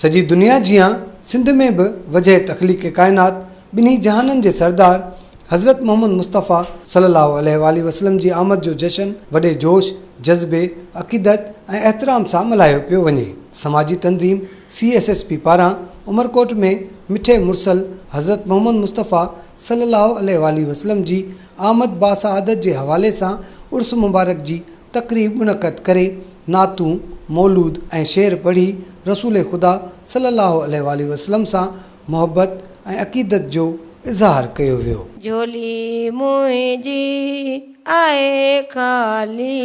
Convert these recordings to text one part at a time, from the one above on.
سڄي دنيا جيان سنڌ ۾ به وجهه تخليق ڪائنات ٻنهي جهانن جي سردار حضرت محمد مصطفيٰ صلي الله عليه واٰله وسلم جي آمد جو جشن وڏي جوش جذبي عقيدت ۽ احترام سان ملهايو پيو وڃي سماجي تنظيم سي ايس ايس پي پاران عمرڪوٽ ۾ مٺي مرسل حضرت محمد مصطفيٰ صلي الله عليه واٰله وسلم جي آمد باسعادت جي حوالي سان عرس مبارڪ جي تقريب منعقد ڪري نعتون، مولود ۽ شعر پڙهي رسول خدا صلي الله عليه واٰله وسلم سان محبت ۽ عقيدت جو اظهار ڪيو ويو. جھولي منهنجي آهي خالي،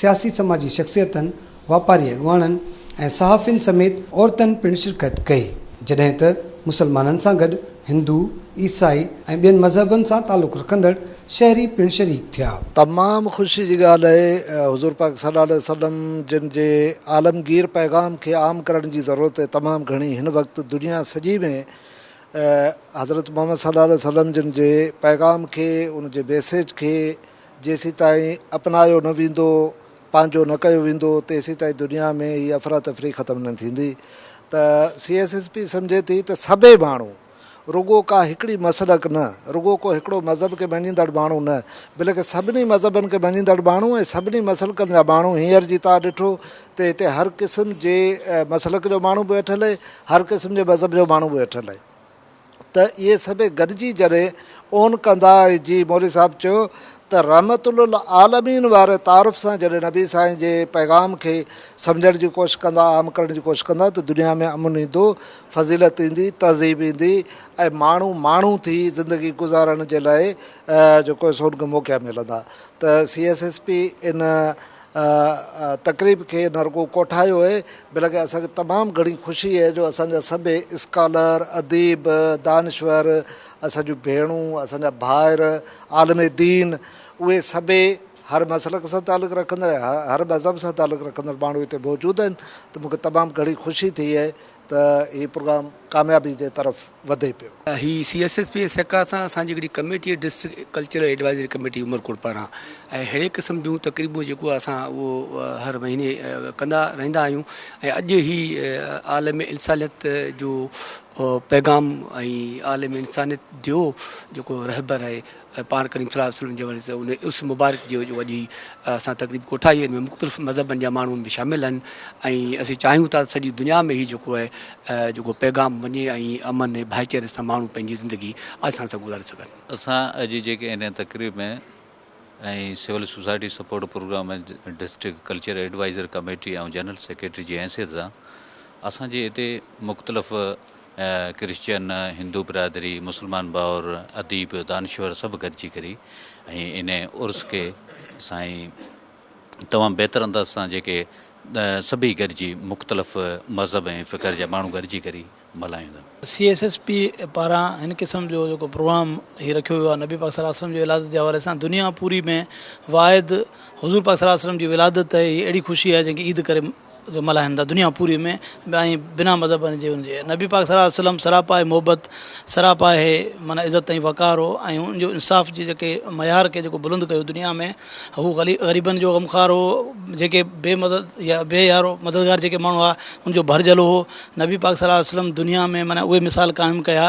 سياسي سماجي شخصيتن، واپاري اڳواڻن ۽ صحافين سميت عورتن پڻ شرڪت ڪئي، جڏهن ته مسلمانن سان گڏ هندو، عيسائي ۽ ٻين مذهبن سان تعلق رکندڙ شهري پڻ شريڪ ٿيا. تمام خوشي جي ڳالهه آهي حضور پاڪ صلي الله عليه وسلم جن جي عالمگير پيغام کي عام ڪرڻ جي ضرورت تمام گهڻي هن وقت دنيا سڄي ۾ حضرت محمد صلي الله عليه وسلم جن جي پيغام کي ان جي ميسيج کي جيسيتائين اپنايو نه ويندو، پنهنجو نه ڪيو ويندو، تيسيتائين دنيا ۾ هي افراتفري ختم نه ٿيندي ته سي ايس ايس پي سمجهي ٿي ته سڀئي ماڻهو رڳو ڪا هڪڙي مسلڪ نه، رڳو ڪو هڪڙو مذهب کي مڃيندڙ ماڻهو نه بلڪ سڀني مذهبن کي مڃيندڙ ماڻهو ۽ سڀني مسلڪن جا ماڻهو هينئر جي تان ڏٺو ته هتي هر قسم جي مسلڪ جو ماڻهو به ويٺل آهي، هر قسم جي مذهب جو ماڻهو به ويٺل آهي. ته اهي سڀيئي گڏجي جڏهن اون ڪندا ۽ جي مولوي صاحب چيو ته رحمت للعالمين واري تعارف سان جڏهن نبي سائين جي پيغام کي سمجهڻ جي ڪوشش ڪندا عام ڪرڻ جي ڪوشش ڪندا ته دنيا ۾ امن ايندو فضيلت ايندي تهذيب ايندي ۽ ماڻهو ماڻهو ٿي زندگي گذارڻ جي لاء جيڪو سو ان کي موقعا ملندا ته سي ايس ايس پي ان تقريب کي نه رڳو ڪوٺايو اهي بلڪه اسان کي تمام گهڻي خوشي اهي جو اسان جا سڀئي اسڪالر، اديب، دانشور، اسان جون ڀيڻون، اسان جا ڀائر، عالم دين اهي سڀئي هر مسلڪ سان تعلق رکندڙ، هر مذهب سان تعلق رکندڙ ماڻهو هتي موجود آهن ته مون کي تمام گهڻي خوشي ٿي اهي ته هي پروگرام ڪاميابي جي طرف وڌي پيو. هي سي ايس ايس پي جي سهڪار سان اسان جي هڪڙي ڪميٽي آهي district cultural advisory committee Umerkot پاران ۽ ههڙي قسم جون تقريبون جيڪو اسان اهو هر مهيني ڪندا رهندا آهيون ۽ اڄ هي عالم انسانيت جو پيغام ۽ عالم انسانيت جو جيڪو رهبر آهي ۽ پاڻ ڪريم صلي الله عليه وسلم جي حوالي سان ان عرس مبارڪ جي جو اڄ اسان تقريب ڪوٺائي ان ۾ مختلف مذهبن جا ماڻهو ان ۾ شامل آهن ۽ اسين چاهيون ٿا سڄي دنيا ۾ هي جيڪو آهي جيڪو پيغام وڃي ۽ امن ۽ ڀائيچاري سان ماڻهو پنهنجي زندگي آسان سان گذاري سگهن اسان اڄ جيڪي ان تقريب ۾ ۽ civil society support program ۾ district culture advisor committee ۽ general secretary جي حيثيت سان اسان جي هتي مختلف ڪرسچن، هندو برادري، مسلمان ڀائر، اديب، دانشور سڀ گڏجي ڪري ۽ ان عرس کي سائين تمام بهتر انداز سان جيڪي سڀئي گڏجي مختلف مذهب ۽ فڪر جا ماڻهو گڏجي ڪري ملهايون ٿا. سي ايس ايس پي پاران هن قسم جو جيڪو پروگرام هي رکيو ويو آهي نبي پاڪ صلي الله عليه وسلم جي ولادت جي حوالي سان دنيا پوري ۾ واحد حضور پاڪ صلي الله عليه وسلم جي ولادت تي هي اهڙي خوشي آهي جنهن کي عيد ڪري جو ملهائن ٿا دنيا پوري ۾ به ۽ بنا مذهب جي ان جي نبي پاڪ صلّي الله عليه وسلّم سراپا هي محبت سراپا هي معنيٰ عزت ۽ وقار هو ۽ ان جو انصاف جي جيڪي معيار کي جيڪو بلند ڪيو دنيا ۾ هو غلي غريبن جو غمخوار هو جيڪي بي مدد يا بي يارو مددگار جيڪي ماڻهو هئا ان جو ڀر جهلو هو نبي پاڪ صلّي الله عليه وسلّم دنيا ۾ معنيٰ اهي مثال قائم ڪيا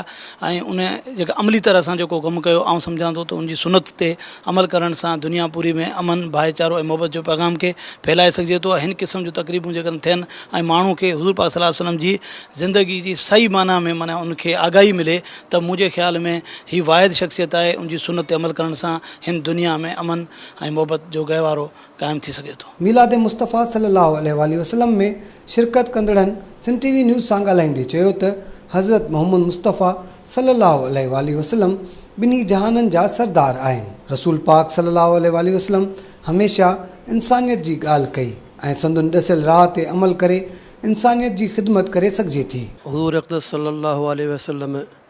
۽ ان جيڪا عملي طرح سان جيڪو ڪم ڪيو آئون سمجهان ٿو ته ان جي سنّت تي عمل ڪرڻ سان دنيا پوري ۾ امن، ڀائيچارو ۽ محبت جو پيغام کي ڦهلائي سگهجي ٿو ۽ هن قسم جون تقريبون جيڪڏهن ٿين ۽ ماڻهو کي حضور پاڪ صلي الله عليه وسلم جي زندگي جي صحيح معنيٰ ۾ معنيٰ ان کي آگاهي ملي ته منهنجي خيال ۾ هي واحد شخصيت آهي ان جي سنت تي عمل ڪرڻ سان هن دنيا ۾ امن ۽ محبت جو گهوارو قائم ٿي سگهي ٿو. ميلاد مصطفيٰ صلي الله عليه واٰله وسلم ۾ شرڪت ڪندڙن سنڌ ٽي وي نيوز سان ڳالهائيندي چيو ته حضرت محمد مصطفيٰ صلي الله عليه واٰله وسلم ٻنهي جهانن جا سردار آهن. رسول پاڪ صلي الله عليه واٰله وسلم هميشه انسانيت جي ڳالهه ڪئي ۽ سندن ڏسيل راهه تي عمل ڪري انسانيت جي خدمت ڪري سگهجي ٿي. حضور اقدس صلي الله عليه وسلم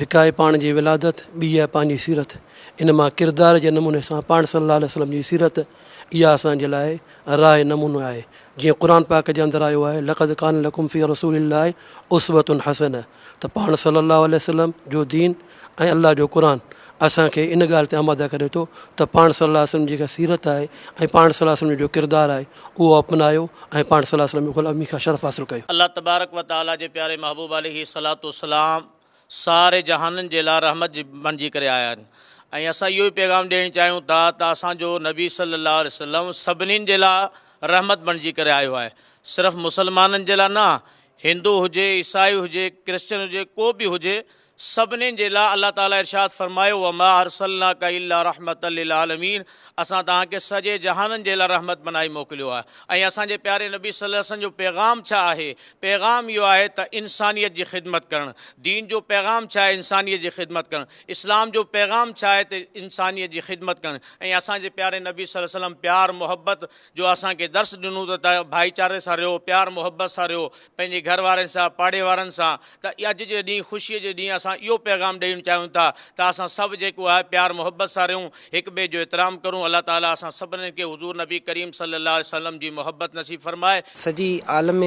هڪ آهي پاڻ جي ولادت، ٻي آهي پنهنجي سيرت. ان مان ڪردار جي نموني سان پاڻ صلي الله عليه وسلم جي سيرت اها اسان جي لاء راهه نمونو آهي. جيئن قرآن پاڪ جي اندر آيو آهي لقد ڪان لڪم في رسول الله اسوة حسنة ته پاڻ صلي الله عليه وسلم جو دين ۽ الله جو قرآن اسان کي ان ڳالهه تي آماده ڪري ٿو ته پاڻ صلي الله عليه وسلم جي جيڪا سيرت آهي ۽ پاڻ صلي الله عليه وسلم جو جيڪو ڪردار آهي اهو اپنايو ۽ پاڻ صلي الله عليه وسلم جي غلامي کان شرف حاصل ڪيو. الله تبارڪ وتعاليٰ جي پياري محبوب عليه الصلوة والسلام ساري جهانن جي لاء رحمت بڻجي ڪري آيا آهن ۽ اسان اهو ئي پيغام ڏيڻ چاهيون ٿا ته اسان جو نبي صلّي اللّٰه عليه وسلّم سڀني جي لاء رحمت بڻجي ڪري آيو آهي صرف مسلمانن جي لاء نه هندو هجي عيسائي هجي ڪرسچن هجي ڪو به هجي سڀني جي لاء الله تعالٰي ارشاد فرمايو وما ارسلناک الا رحمتا للعالمين اسان توهان کي سڄي جهانن جي لاء رحمت بنائي موڪليو آهي ۽ اسان جي پياري نبي صلّي اللّٰه عليه وسلّم جو پيغام ڇا آهي پيغام اهو آهي ته انسانيت جي خدمت ڪرڻ. دين جو پيغام ڇا آهي؟ انسانيت جي خدمت ڪرڻ. اسلام جو پيغام ڇا آهي ته انسانيت جي خدمت ڪرڻ ۽ اسان جي پياري نبي صلي وسلم پيار محبت جو اسان کي درس ڏنو ته ته ڀائيچاري سان رهو پيار محبت سان رهو پنهنجي گهر وارن سان پاڙي وارن سان ته اڄ جي ڏينهن خوشي جي ڏينهن اسان اهو پيغام ڏيڻ چاهيون ٿا ته اسان سڀ جيڪو آهي پيار محبت سان رهون هڪ ٻئي جو احترام ڪرون، الله تعاليٰ اسان سڀني کي حضور نبي ڪريم صلي الله عليه وسلم جي محبت نصيب فرمائي. سڄي عالم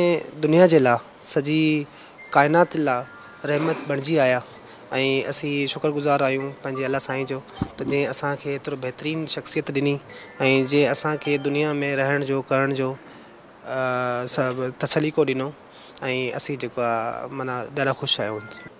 دنيا جي لا سڄي ڪائنات لا رحمت بڻجي آيا ۽ اسين شڪر گذار آهيون پنهنجي الله سائين جو ته جنهن اسان کي ايترو بهترين شخصيت ڏني ۽ جنهن اسان کي دنيا ۾ رهڻ جو ڪرڻ جو سليقو ڏنو ۽ اسين جيڪو آهي معنيٰ ڏاڍا خوش آهيون.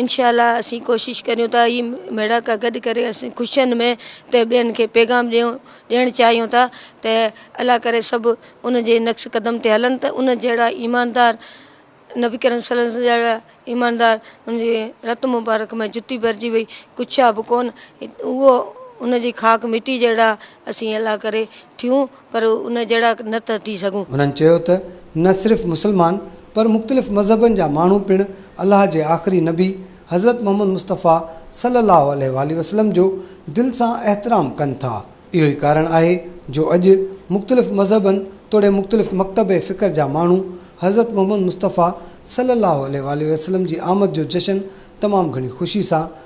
انشاء الله اسين ڪوشش ڪريون ٿا هي ميڙاڪا گڏ ڪري اسين خوشين ۾ ته ٻين کي پيغام ڏيون ڏيڻ چاهيون ٿا ته الله ڪري سڀ ان جي نقش قدم تي هلن ته ان جهڙا ايماندار نبي ڪريم صلي الله وسلم جهڙا ايماندار ان جي رت مبارڪ ۾ جتي ڀرجي وئي ڪڇا به ڪون اهو ان جي خاڪ مٽي جهڙا اسين الله ڪري ٿيون پر ان جهڙا نه ٿا ٿي سگهون. هنن چيو ته نه صرف مسلمان پر مختلف مذهبن جا ماڻهو پڻ الله جي آخري نبي حضرت محمد مصطفيٰ صلّي اللّٰه عليه واٰله وسلّم جو دل سان احترام ڪن ٿا. اهو ئي ڪارڻ آهي جو اڄ مختلف مذهبن توڙي مختلف مڪتب فڪر جا ماڻهو حضرت محمد مصطفيٰ صلّي اللّٰه عليه واٰله وسلّم جي آمد جو جشن تمام گهڻي خوشي سان